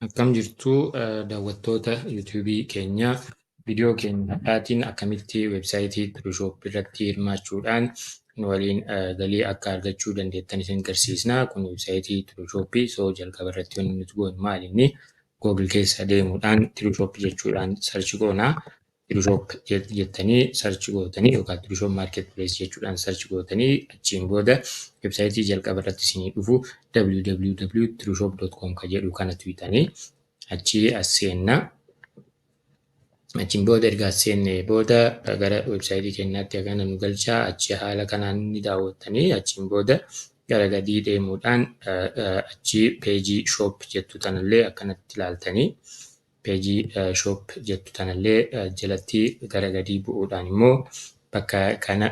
Akkam jirtu daawwattoota YouTube keenyaa. Viidiyoo keenya har'aatiin akkamitti websaayitii Photoshop irratti hirmaachuudhaan nu waliin galii akka argachuu dandeettan isin garsiisna. Kun websaayitii Photoshop so jalqaba irratti wanni nuti goonu maal inni Google keessa deemuudhaan Photoshop jechuudhaan sarchi goona. Trishop jettanii search gootanii yookaan Trishop Marketplace jechuudhaan search gootanii achiin booda websaayitii jalqaba irratti isinii dhufu www.trishop.com ka jedhu kana tuqxanii achi as seenna. Achiin booda erga as seenne booda gara websaayitii keenyaatti hagana nu galchaa achi haala kanaan ni daawwattanii achiin booda gara gadii deemuudhaan achi peejii shop jettu tanallee akkanatti ilaaltanii Page shop jettu tanallee jalatti gara gadii bu'uudhaan immoo bakka kana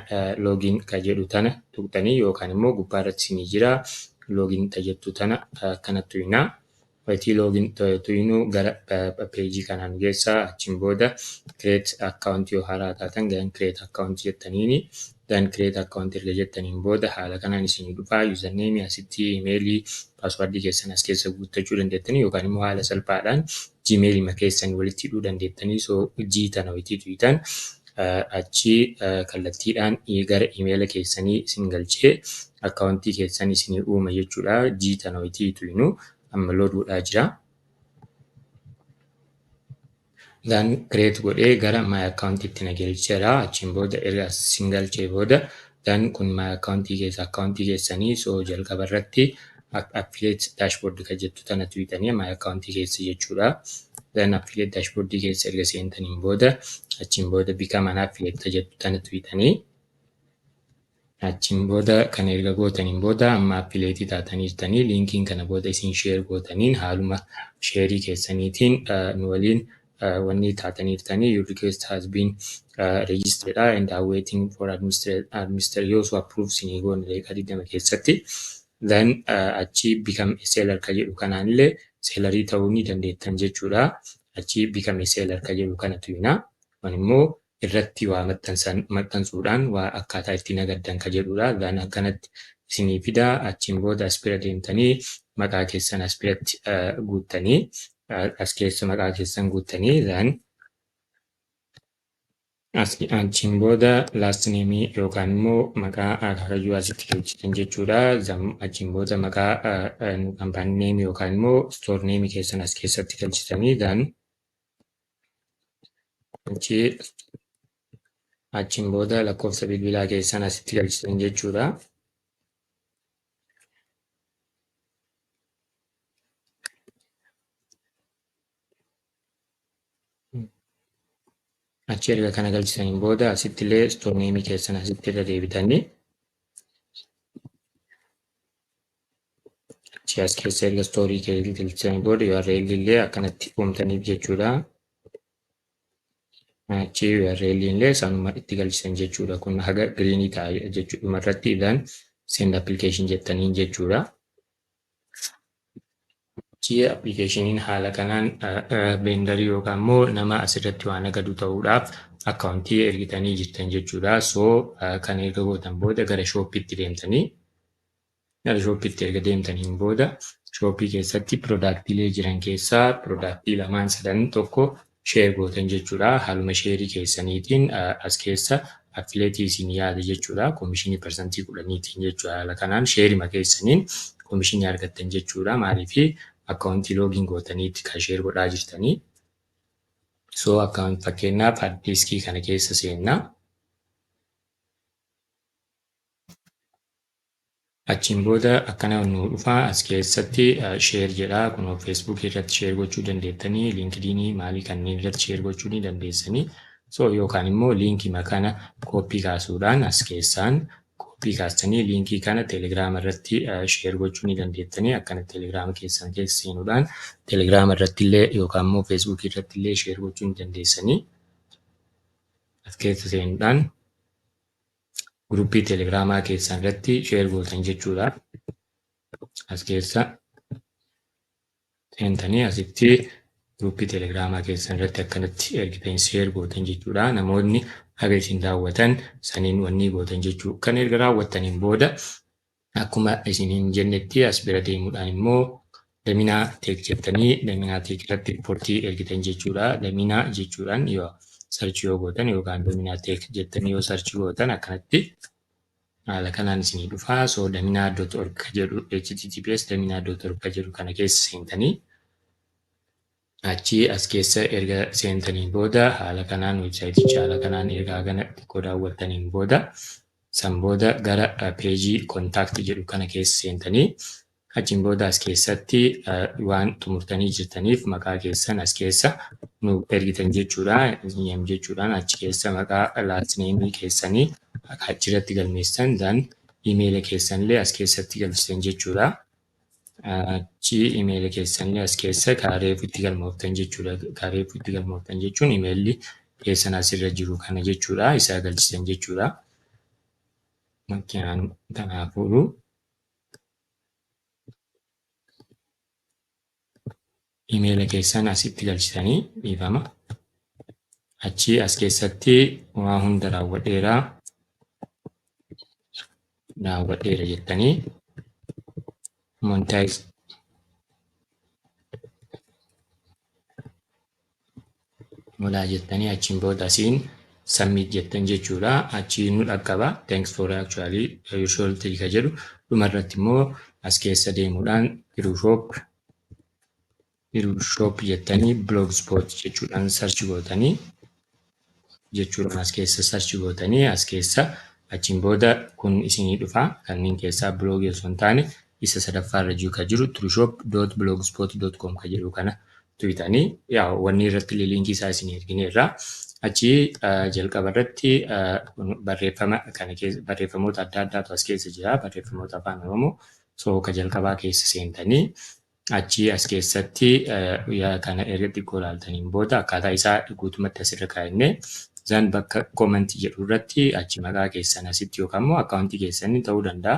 login ka jedhu tana tuqxanii yookaan immoo gubbaa irratti isinii jira login ta jettu tana akkana tuyinaa. Wayitii login tuyinuu gara page kanaa nu geessaa achiin booda create account yoo haaraa taatan gan create account jettaniini Then create account erga jettaniin booda haala kanaan isinii dhufa. Username asitti email password keessan as keessa guuttachuu dandeettanii yookaan immoo haala salphaadhaan gmail ma keessan walitti hidhuu dandeettanii so hojii tana wayitii tuytan achi kallattiidhaan gara email keessanii isin galchee akkaawuntii keessan isinii uuma jechuudha. Hojii tana wayitii tuynu amma loduudhaa jira. Isaan create godhee gara my account itti na galcheera. Achiin booda erga sin galchee booda dan kun my account keessa account keessanii so jalqaba irratti affiliate dashboard kan jettu tana tuqxanii my account keessa jechuudha. Dan affiliate dashboard keessa erga seentaniin booda achiin booda become an affiliate kan jettu tana tuqxanii Achiin booda kana erga gootaniin booda amma appileetii taataniirtanii liinkiin kana booda isin sheer gootaniin haaluma sheerii keessaniitiin nu waliin wanni taataniirtanii your request has been registered and are waiting for administrator yoo su approve sinii goone daqiiqaa 20 keessatti then achi become a seller ka jedhu kanaanillee seelarii ta'uu ni dandeettan jechuudha achi become a seller ka jedhu kanatu hina kun immoo irratti waa maxxansan maxxansuudhaan waa akkaataa itti nagaddan ka jedhuudha than akkanatti isinii fida achiin booda as bira deemtanii maqaa keessan as biratti guuttanii as keessa maqaa keessan guuttanii than achiin booda last name yookaan immoo maqaa akaakayyuu asitti galchitan jechuudha zam achiin booda maqaa kampaanii name yookaan immoo store name keessan as keessatti galchitanii than Achii achiin booda lakkoofsa bilbilaa keessan asitti galchitan jechuudha. Achi erga kana galchisaniin booda asitti illee istooneemii keessan asitti irra deebitanii Achi as keessa erga stoorii keetii galchan booda URL illee akkanatti uumtaniif jechuudha. Achi URL illee isaanuma itti galchan jechuudha. Kun haga giriinii ta'a jechuudha. Dhuma irratti idan send application jettaniin jechuudha. Achi appilikeeshiniin haala kanaan veendarii yookaan immoo nama asirratti waan nagadu ta'uudhaaf akkaawuntii ergitanii jirtan jechuudha. So kan erga gootan booda gara shooppiitti deemtanii Gara shooppiitti erga deemtaniin booda shooppii keessatti pirodaaktiilee jiran keessaa pirodaaktii lamaan sadan tokko sheer gootan jechuudha. Haaluma sheerii keessaniitiin as keessa affileetii isin yaade jechuudha. Komishinii parsantii kudhaniitiin jechuudha. Haala kanaan sheerima keessaniin komishinii argattan jechuudha. Maaliif akkaawuntii loogiin gootaniitti kan sheer godhaa jirtanii. So akkaawuntii fakkeenyaaf addiiskii kana keessa seenna. Achiin booda akkana nuu dhufaa as keessatti share jedha kunoo Facebook irratti share gochuu dandeettanii LinkedIn maalii kanneen irratti share gochuu ni dandeessanii so yookaan immoo liinkii makana kooppii kaasuudhaan as keessaan kooppii kaastanii liinkii kana Telegram irratti share gochuu ni dandeettanii akkana Telegram keessan keessa seenuudhaan Telegram irratti illee yookaan immoo Facebook irratti illee share gochuu ni dandeessanii as keessa seenuudhaan Group Telegram keessan irratti share gootan jechuudha. As keessa seentanii asitti group Telegram keessan irratti akkanatti ergitan share gootan jechuudha. Namoonni haga isin daawwatan saniin wannii gootan jechuu. Kan erga raawwattaniin booda Akkuma isiniin jennetti as bira deemuudhaan immoo daminaa teek jettanii daminaa teek irratti riipportii ergitan jechuudha. Daminaa jechuudhaan yoo sarchi yoo gootan yookaan daminaa teek jettanii yoo sarchi gootan akkanatti haala kanaan isinii dhufa. So daminaa dot org jedhu https daminaa dot org jedhu kana keessa seentanii Achii as keessa erga seentaniin booda haala kanaan websaayiticha haala kanaan erga hagana xiqqoo daawwattaniin booda san booda gara peejii kontaakti jedhu kana keessa seentanii achiin booda as keessatti waan xumurtanii jirtaniif maqaa keessan as keessa nu ergitan jechuudha name jechuudhaan achi keessa maqaa last name keessanii achirratti galmeessan dan imeela keessanillee as keessatti galchitan jechuudha. Achi imeela keessan as keessa kaa reefu itti galmooftan jechuudha. Kaa reefu itti galmooftan jechuun imeelli keessan asirra jiru kana jechuudha. Isaa galchisan jechuudha. Makiinaan kanaafuu Imeela keessan asitti galchitanii dhiifama. Achii as keessatti waa hunda raawwadheera. Raawwadheera jettanii monetize Molaa jettanii achiin booda asiin submit jettan jechuudha. Achii nu dhaqqaba. Thanks for actually your shop three ka jedhu dhuma irratti immoo as keessa deemuudhaan Biruu shop Biruu shop jettanii blogspot jechuudhaan search gootanii jechuudhaan as keessa search gootanii as keessa achiin booda kun isinii dhufa kanneen keessaa blogii osoo hin taane isa sadaffaa irra jiru ka jiru trueshop.blogspot.com ka jedhu kana tuyitanii yaa wanni irratti illee liinkii isaa isin ergineerra achii jalqaba irratti barreeffama kana keessa barreeffamoota adda addaatu as keessa jira barreeffamoota afaan oromoo so ka jalqabaa keessa seentanii achii as keessatti kana erga xiqqoo ilaaltaniin booda akkaataa isaa guutumatti asirra kaa'inne Zan bakka comment jedhu irratti achi maqaa keessan asitti yookaan immoo akkaawuntii keessaniin ta'uu danda'a.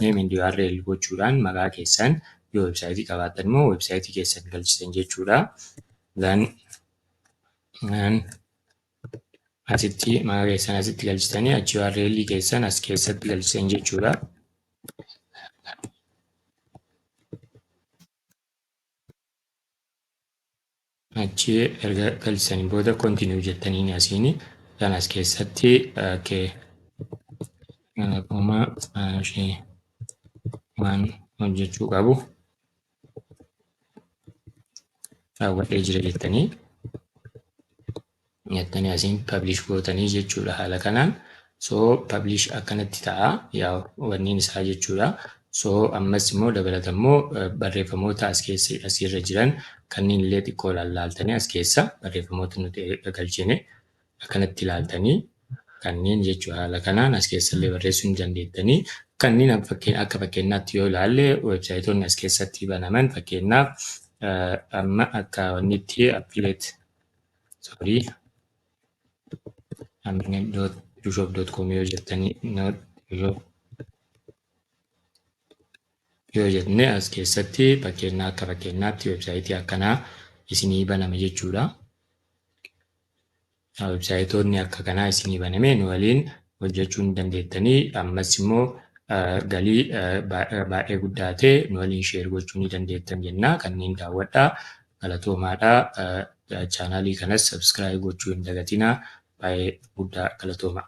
Name and URL gochuudhaan maqaa keessan yoo websaayitii qabaattan immoo websaayitii keessan galchitan jechuudha. Zan asitti maqaa keessan asitti galchitanii achi URL keessan as keessatti galchitan jechuudha. Achi erga galchisanii booda continue jettanii ni asiini kan as keessatti okay. Galatooma ishee waan hojjechuu qabu raawwadhee jira jettanii nyattani asiin publish gootanii jechuudha haala kanaan so publish akkanatti ta'a yaa wanniin isaa jechuudha so ammas immoo dabalata immoo barreeffamoota as keessa asiirra jiran kanneen illee xiqqoo laaltanii as keessa barreeffamoota nuti galchine akkanatti laaltanii kanneen jechuu haala kanaan as keessa illee barreessuu ni dandeettanii kanneen akka fakkeenyaatti yoo ilaalle weebsaayitoonni as keessatti banaman fakkeenyaaf amma akka wannitti appileet sorry amina.dushop.com yoo jettanii yoo yoo jenne as keessatti fakkeenyaa akka fakkeenyaatti websaayitii akkanaa isinii baname jechuudha. Websaayitoonni akka kanaa isinii baname nu waliin hojjachuu ni dandeettanii ammas immoo galii baay'ee guddaa ta'e nu waliin sheer gochuu ni dandeettan jennaa kanneen daawwadhaa galatoomaadhaa chaanaalii kanas sabskiraayib gochuu hin dagatinaa baay'ee guddaa galatoomaa.